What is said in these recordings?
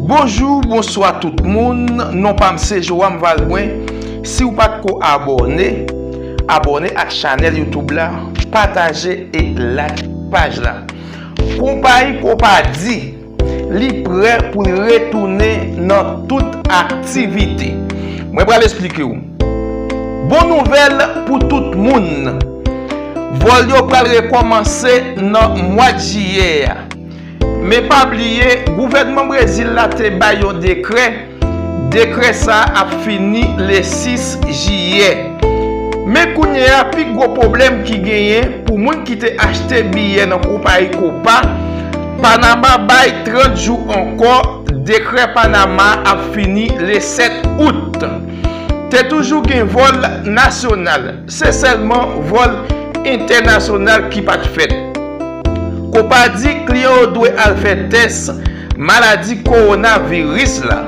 Bonjou bonswa tout moun non pam se Joam Valbrun siw pat ko abòne abòne ak chanèl YouTube la pataje e like paj la konpayi kopadi li prè poul retounen nan tout aktivite mwen pral esplikew bon nouvèl pou tout moun vòl yo pral rekòmanse nan mwad jiyè a. Men pa bliye, gouvènman Brezil la te bay yon dekrè, dekrè sa a ap fini le 6 jiyè. Men kounye a, pi gwo pwoblèm ki genyen pou moun ki te achte biyè nan konpayi Copa Panama bay 30 jou ankò, dekrè Panama a ap fini le 7 out. Te toujou gen vòl nasyonal. Se sèlman vòl entènasyonal ki pa t fèt. Copa di kliyan yo dwe al fè tès maladi kowonaviris la.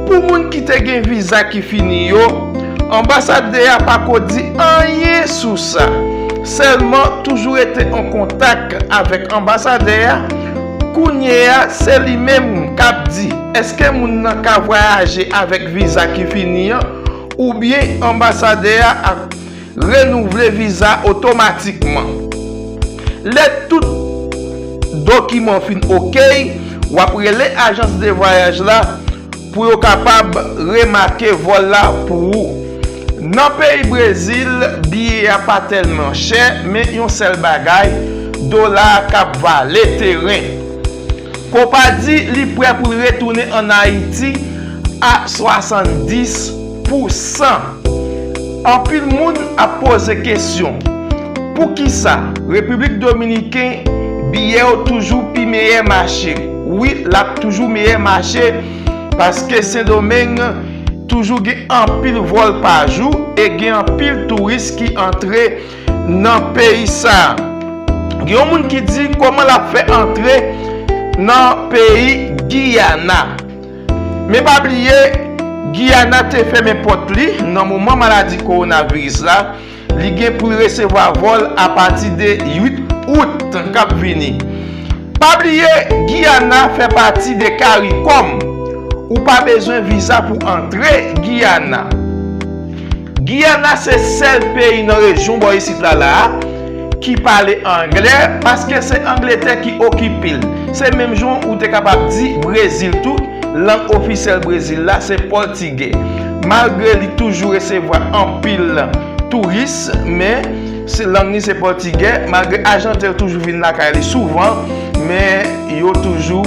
Pou moun ki te gen viza ki fini yo, anbasadè a pa ko di anyen sou sa. Sèlman toujou rete an kontak avèk anbasadè a. Kounye a, se li menm k ap di èske moun nan ka vwayaje avèk viza ki fini an. oubyen anbasadè a ap renouvle viza otomatikman. Lè tout dokiman w fin okey, w ap rele ajans de vwayaj la pou yo kapab remake vòl la pou ou. Nan peyi Brezil, biye a pa tèlman chè, men yon sèl bagay, dola a kab vale teren. Copa di li prè pou l retounen an Ayiti a 70 pou 100. Anpil moun ap poze kesyon, pou kisa Repiblik Dominiken biyè yo toujou pi meyè mache? Wi l ap toujou meyè mache paske Sendomeng toujou gen anpil vòl pa jou e gen anpil touris ki antre nan peyi sa. Gen yon moun ki di koman lap fè antre nan peyi Guyana. Men pa bliye Guyana te fèmen pòt li nan moman maladi kowonaviris la. Li gen pou li resevwa vòl a pati de 8 Out kap vini. Pa bliye Guyana fè pati de Caricom. Ou pa bezwen viza pou antre Guyana. Giyana se sèl peyi nan rejyon bò isit la la a ki pale angle paske se Angletè ki okipe l. Se menm jan ou te kapab di Brezil tou, lang ofisyèl Brezil la se pòtigè. Malgre li toujou resevwa anpil touris men se lang li se pòtigè malgre ajanten yo toujou vin lakay li souvan men yo toujou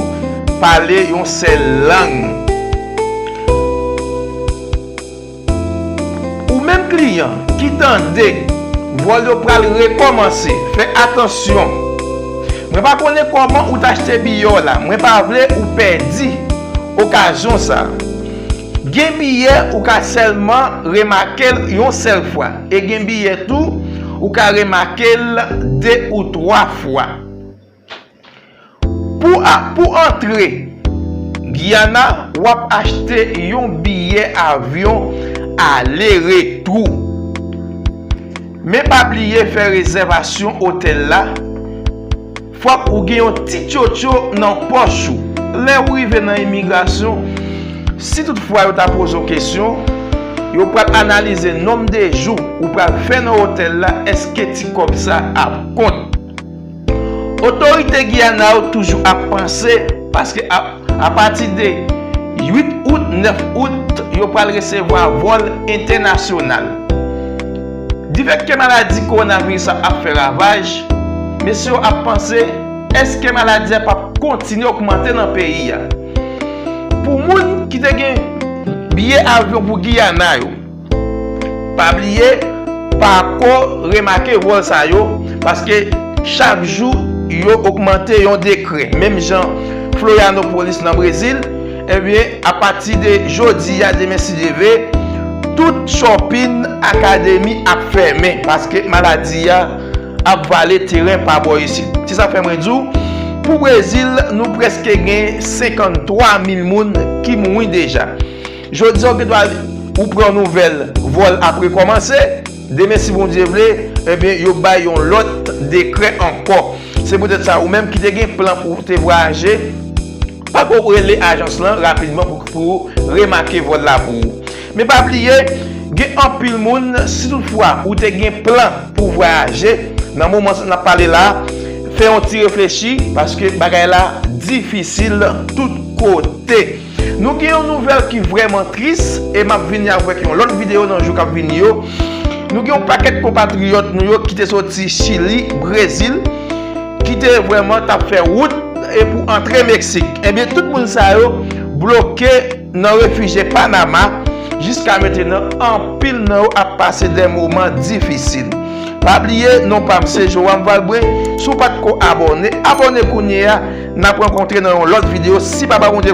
pale yon sèl lang. Ou menm kliyan ki tande vòl yo pral rekòmanse fè atansyon mwen pa konnen kòman ou t achte biyè w la mwen pa vle ou pèdi okazyon sa gen biyè ou ka sèlman remake l yon sèl fwa e gen biyè tou ou ka remake l 2 ou 3 fwa. Pou antre Guyana, w ap achte yon biyè avyon ale retou. Men pa bliye fè rezèvasyon otèl la, fòk ou gen yon ti tchotcho nan pòch ou. Lè ou rive nan imigrasyon, si tout fwa yo ta poze w kesyon, yo pral analize nonm de jou ou pral fè nan otèl la, èske ti kòb sa ap kont. Otorite Guyana yo toujou ap panse paske a pati de 8 out, 9 out yo pral resevwa vòl entènasyonal. Di fèt ke maladi kowonaviris la ap fè ravaj, mesye yo ap panse eske maladi a pap kontinye ogmante nan peyi a. Pou moun ki te gen biye avyon pou Guyana yo. Pa bliye pako remake wòl sa yo paske chak jou yo ogmante yon degré menm jan Florianopolis nan Brezil ebyen apati de jodi a demen si Dye ve tout chòpin akademi ap fèmen paske maladi a ap vale teren pa bò isit se sa fè mwen di w pou Brezil nou preske gen 53 mil moun ki mouri deja. Jodi a ou gen dwa ou pran yon nouvèl vòl ap rekòmanse, demen si Bondye vle, ebyen yo bay yon lòt dekrè ankò. Se poutèt sa ou menm ki te gen plan pou ou te vwayaje, pako rele ajans lan rapidman pou ou remake vòl la pou ou. Men pa bliye, gen anpil moun si tout fwa ou te gen plan pou ou vwayaje, nan moman sa nap pale la, fè yon ti reflechi paske bagay la difisil tout kote. Nou gen yon nouvèl ki vrèman tris e map vini avèk yon lòt videyo nan jou kap vini yo. Nou gen yon pakèt konpatriyòt nou yo ki te soti Chili, Brezil, ki te vrèman tap fè wout e pou antre Meksik. Ebyen tout moun sa yo bloke nan refije Panama jiska metenan anpil nan yo ap pase de moman difisil. Pa bliye non pam se Joram Valbrun, si w pat ko abòne, abòne kounye a, nap rankontre nan yon lòt videyo si papa Bondye